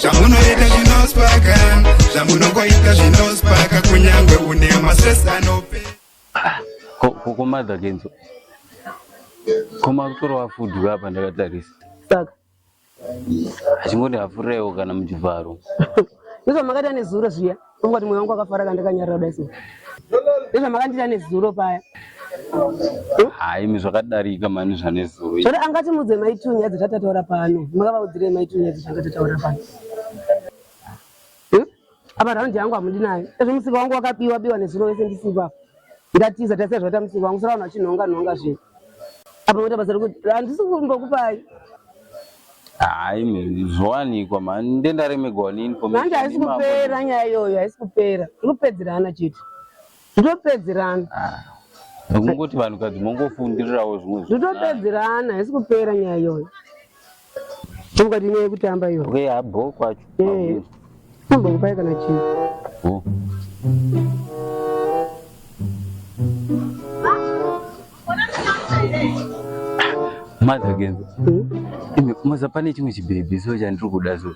zvamunoita zvinospaka zvamunongoita zvinospaka kunyange une mastress anope ah, kokomadha kenzo koma kutora wafudu vapa ndakatarisa saka achingoti hafuraiwo kana muchivharo izvo makati ane zuro zviya Ungoti mwoyo wangu wakafara kana ndakanyarara kudai so. Ndozvamakandiita nezuro paya. Hayi imi zvakadarika mani zvanezuro. Zvoti angati mudze mai Tunya dzatataura pano. Makavaudzirei mai Tunya dzatanga tataura pano. Apa round yangu hamudi nayo. Ezvo musika wangu wakabiwa biwa nezuro wese ndisipo apa. ndatiza tasiya zvatamisika wangu sara vanhu vachinhonga nhonga zve apa moita basa rekuti handisi kumbokupai hayi zvowanikwa mani ndenda remegwanini manje haisi kupera nyaya iyoyo haisi kupera ikupedzerana chete zvitopedzerana nekungoti ah, vanhukadzi mongofundirirawo zvimwe zvitopedzerana haisi kupera nyaya iyoyo Mukati nyaya yekutamba iyo. Okay, habo kwacho. Eh. Kumba kupai kana chii. Oh. Mother again. Hmm? Imi maza pane chimwe chibhebhi so chandiri kuda so.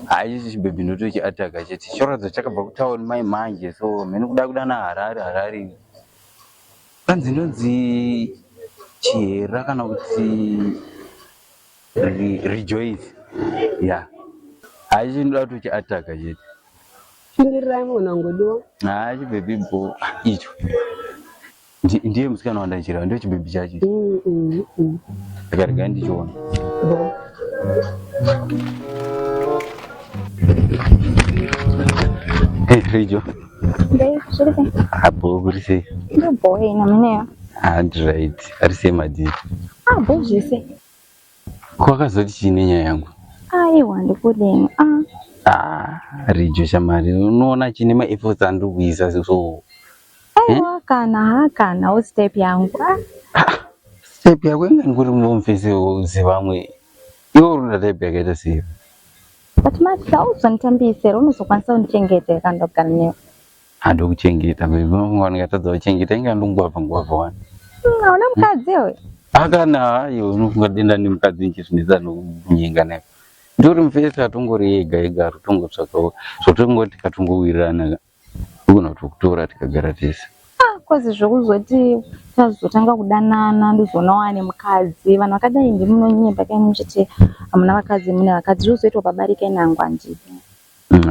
Haisi chibhebhi ndoto chiataka chete. Chorodzo chakabva kutown mai manje so mhene kuda kuda na Harare Harare. Kanzi inonzi Chihera kana kuti Rejoice. Ya. Hayi chinoda kuti chiataka chete. Shingirirai mwana ngodiwa. Hayi chibhebhi bho icho. Ndiye musikana wandanjira ndio chibhebhi chacho. Mm mm. mm. Akarega ndichiona. Bo. Hey, Rejo. abhokurise handright ari sei madii abho zvese kwakazoti chii nenyaya yangu aiwa ndikudini rijo shamari unoona chine maefforts andiri kuisa so aiwa eh? kana ha kana wo step yangu step yako inga ndikuri mumfese zivamwe iwo runa type yakaita sei But Max hauzonditambise here unozokwanisa kundichengeta here kana ndogara newe? Handi kuchengeta baby vangu vangatadza kuchengeta inga ndongwavha ngwavha wani. Hmm, hauna mukadzi iwe? Akana hayo unofunga denda nemukadzi nchizvinetsa nokunyenga naye. Ndori mufesi atongori ega ega atongotsvakawo zvotongoti katongowirirana Togona kutokutora tikagara tese. Ah, kozi zvokuzoti tazotanga kudanana ndozoona wane mukadzi. Vanhu vakadai ndimi munonyepa kai muchiti hamuna vakadzi mune vakadzi zvozoitwa pabari kai nangu handidi.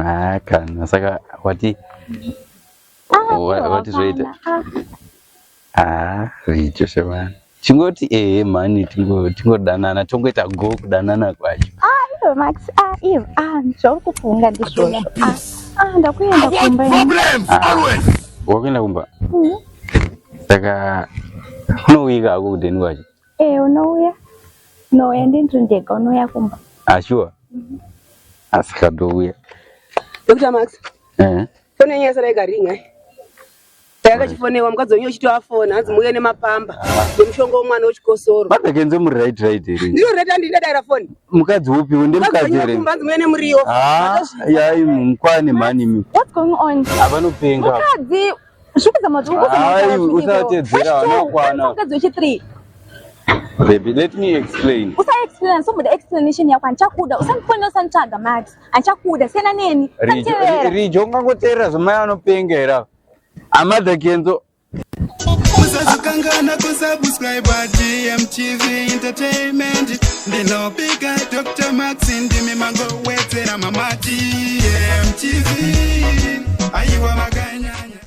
Ah, kana saka wati ah, wati zvoita. Ah. haa richo shemani chingoti ehe mhani tingo- tingodanana tongoita go kudanana kwacho Ivo Max, ah, Ivo, ah, zvauri kufunga ndizvozvo. Ah, ah, ndakuenda kumba ini. wakuenda kumba Mhm. saka unouika hako kudheni kwacho Eh, unouya? Unouya ndinzi ndega unouya kumba. ashuwa asika ndouya Dr. Max, ehe fone yenyu yasara ikarinya. akachifonewa mukadzi wenyu uchitoafona hanzi muuye nemapamba nemushonga womwana wechikosoro matakenze muri right right here ndiro right handi ndadaira foni mukadzi upi unde mukadzi here hanzi muuye nemuriwo ah, yai mukwane mhani mi what's going on avanopenga mukadzi zvikudzama usatedzera vanokwana mukadzi wechi3 Baby, let me explain. Usa explain, so muda explanation yakho andichakuda. Usandifonela usanitsvaga Max. achakuda siyana neni rijo ungangoteerera zvamai anopenga here ava amadha kenzo kusazokangana kusubscribe dmtv entertainment ndinopika dr max ndimi mangowedzera mamati mtv aiwa makanyanya